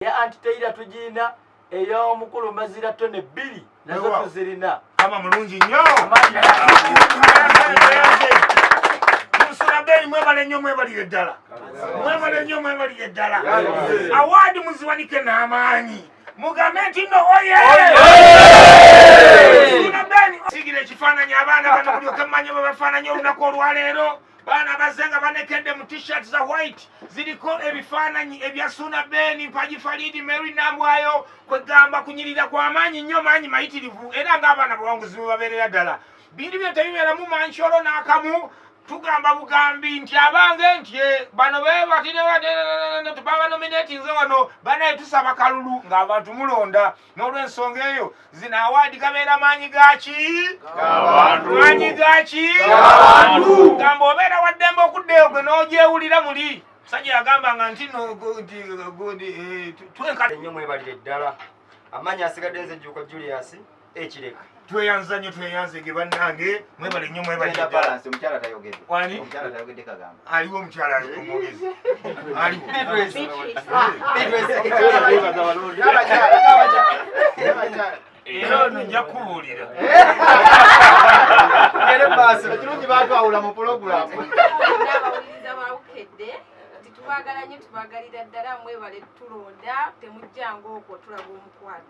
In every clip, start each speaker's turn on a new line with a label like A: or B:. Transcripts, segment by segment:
A: ya anti teira tujina eya omukulu mazira tone bili nazo tuzirina kama mulungi nyo
B: musulabeyi mwebale nyo mwebalire ddala mwebale nyo mwebalire ddala awaadi muziwanike n'amaanyi mugambe nti no oye sigire ekifaananyi abaana bano mulyoke mumanye bwe bafaananyi olunaku olwaleero baana bazze nga banekedde mu t-shirt za white ziriko ebifaananyi ebya suuna beeni mpagi faliidi mary nambwayo kwegamba kunyirira kwa maanyi nnyo maanyi mayitirivu era ng'abaana bawanguzi bwe babeerera ddala bintu bino tebibeeramu mankyolo n'akamu tugamba bugambi nti abange nti eh, bano bebatire baba nominatinze wano banaye tusaba kalulu ng'abantu mulonda n'olwensonga eyo zino awaadi gabeera maanyi gaki maanyi gaki gamba obeera waddembe okuddeyo gwe n'ogyewulira muli musajja yagamba nga nti eh, twenkaenyo mwebalire ddala
A: amaanyi asigadde nze jjuuko julius ekireka tweyanza nnyo
B: tweyanzege bannange mwebale nnyo mwebalialiwo
C: omukyala
B: aliomwogezi era ono nja kubuulira
C: ekirungi batwawula mu pulogulamu
D: tubagala nyo tubagalira ddala mwebale tulonda temujjanga okwo tulaga omukwano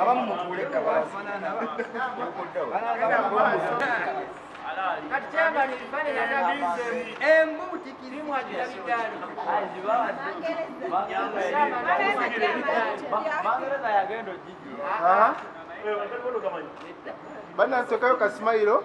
B: abamu mutuule
E: kati kyagani embuuti kirimu agira bigaali banansi okayo kasimayiro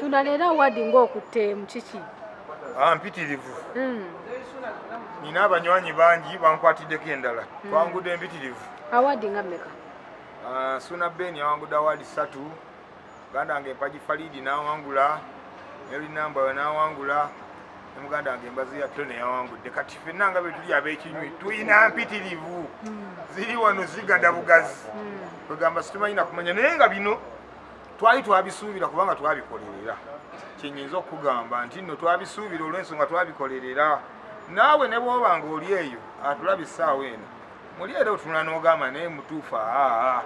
D: suna leero awaadi ng'okutteemu kiki ah, mpitirivu
B: hmm. nina abanywanyi bangi bankwatiddeko endala hmm. twangudde mpitirivu awaadi nga mmeka
D: ah, suna
B: ben yawangudde awaadi ssatu ganda nga empagi faliidi n'awangula nelinaambawe n'awangula ne muganda wange embazi ya tone yawangudde kati fenna nga betuli abekinywi tulina mpitirivu ziri wano zigada bugazi kwegamba situmanyi nakumanya naye nga bino twali twabisuubira kubanga twabikolerera kyenyinza okukugamba nti nno twabisuubira olwensonga twabikolerera naawe ne bwoba nga oli eyo atulaba essaawa eno muli era otunula n'ogamba naye mutuufu aa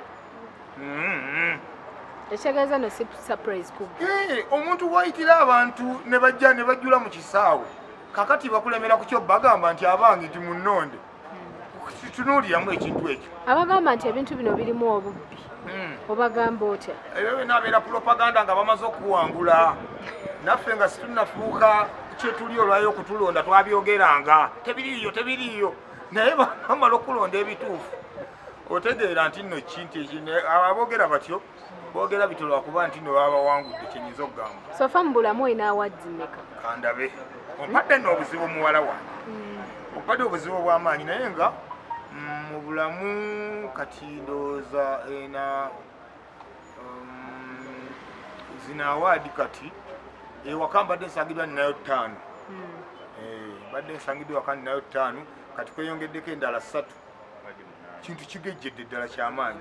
D: ekitegeeza no si surprise ku eh, omuntu wayitira
B: abantu ne bajja ne bajjula mu kisaawe kakati bakulemera ku kyo bagamba nti abange ti munnonde hmm. tunuuliramu ekintu ekyo abagamba nti ebintu
D: bino birimu obubbi hmm. obagamba otya ebyo byona abeera
B: propaganda nga bamaze okuwangula naffe nga situnafuuka kyetuli olwayo okutulonda twabyogeranga tebiriiyo tebiriiyo naye bamala okulonda ebituufu otegeera nti nno kinti aboogera batyo boogera bityo lwakuba nti nno baba bawangudde kyenyinza okugamba sofa mu bulamu olina
D: awaddi meka kandabe
B: ompadde nno obuzibu muwala wange mm. ompadde obuzibu obw'amaanyi naye nga mm, mu bulamu kati ndowooza ena um, zina awaadi kati ewaka mbadde nsangidwa ninayo ttaano mm. eh, mbadde nsangidwa waka ninayo ttaano kati kweyongeddeko endala ssatu kintu kigejjedde ddala kyamaanyi.